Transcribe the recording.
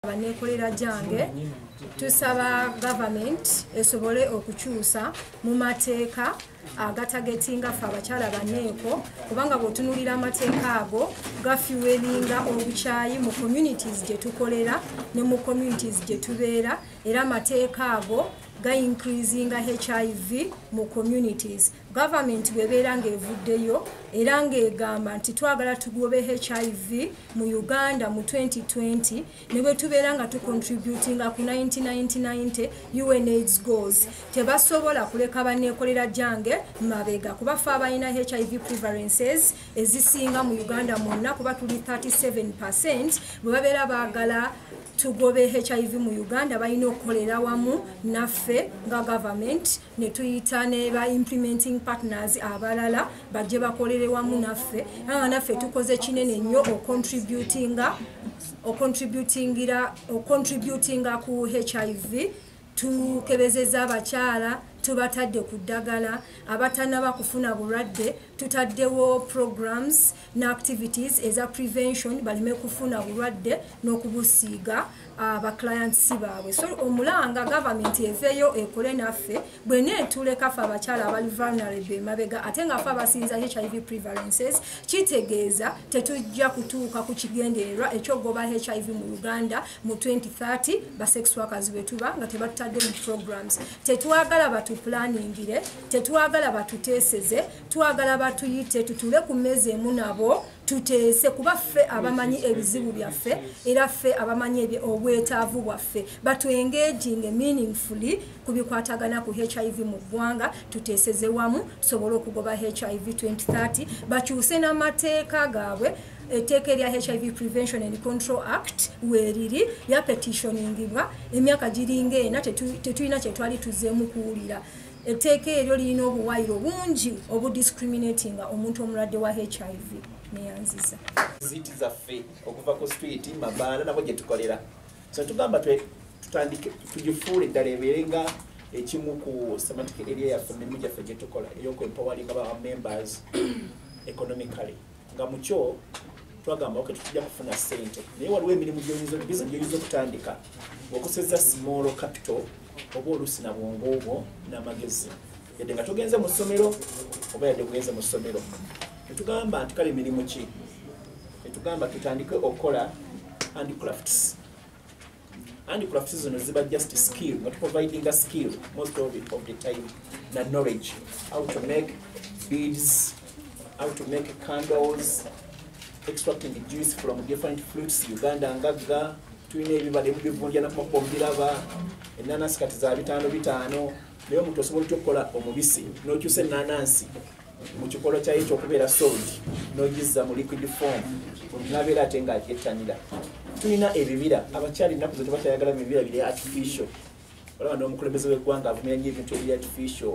ndaba nekolera gyange tusaba government esobole okukyusa mu mateeka agatagetinga ffe abakyala baneeko kubanga bwotunulira amateeka ago gafiwelinga obukyayi mu communities gye tukolera ne mu communities gye tubeera era amateeka ago gaincreasinga hiv mu communities Government bwebeera ng'evuddeyo era ng'egamba nti twagala tugobe HIV mu Uganda mu 2020 ne bwe tubeera nga tucontributinga ku 1990 UNAIDS goals tebasobola kuleka banneekolera gyange mabega kuba fe abalina HIV prevalences ezisinga mu Uganda mwonna kuba tuli 37 percent bwe babeera baagala tugobe HIV mu Uganda balina okukolera wamu naffe nga government ne tuyita ne ba implementing partners abalala bajje bakolere wamu naffe aa naffe tukoze kinene nnyo ocontributinga ocontributingira ocontributinga ku hiv tukebezeza abakyala tubatadde ku ddagala abatanaba kufuna bulwadde tutaddewo programs ne activities eza prevention baleme kufuna bulwadde n'okubusiiga uh, ba clients baabwe so omulanga government eveeyo ekole naffe bwena etuleka fe abakyala abali vulnerable emabega ate nga fe abasinza hiv prevalences kitegeeza tetujja kutuuka ku kigendererwa ekyogoba hiv mu uganda mu 2030 basexwakazi bwetuba nga tebatutadde mu programs tetwagala batupulaningire tetwagala batuteeseze twagala batuyite tutuule ku mmeeza emu nabo tuteese kuba ffe abamanyi ebizibu byaffe era ffe abamanyi obwetaavu bwaffe batwengeginge meaningfully ku bikwatagana ku hiv mu ggwanga tuteeseze wamu tusobole okugoba hiv 2030 bakyuse n'amateeka gaabwe etteeka erya hiv prevention and control act weeriri lyapetitioningibwa emyaka giringa ena tetulina kyetwali tuzeemu kuwulira etteeka eryo lirina obuwayiro bungi obudiscriminatinga omuntu omulwadde wa hiv neyanziza ziti zaffe okuva ku street mabaana nabo gye tukolera so tugamba tutandike tugifuule eddala ebeere nga ekimu ku semantic eria yaffe mirimu gyaffe gye tukola ey'okwempawalinga ba members economically nga mukyo twagamba oke tujja kufuna sente naye waliwo emirimu gyoyinza gyoyinza okutandika okoseza small capital oba oluusi na bwongo obwo n'amagezi yadde nga tugenze mu ssomero oba yadde kugenze mu ssomero tetugamba nti kale emirimu ki tetugamba tutandike okukola handicrafts and crafts zino ziba just skill not providing a skill most of, it, of the time na knowledge how to make beads how to make candles extracting the juice from different fruits uganda ngagga tulina ebibadde mubivunja nakumakuba omubiraba enanasi kati za bitaano bitaano naye omuntu osobola otya okukola omubisi nokyusa enanansi mu kikolwa kyayo ekyokubeera sold nogizza mu liquid form nabeera ate nga ettanira tulina ebibira abakyali ennaku ze tebakyayagala bibira biri artificial olaba n'omukulembeze w'eggwanga avumira nyo ebintu ebiri artificial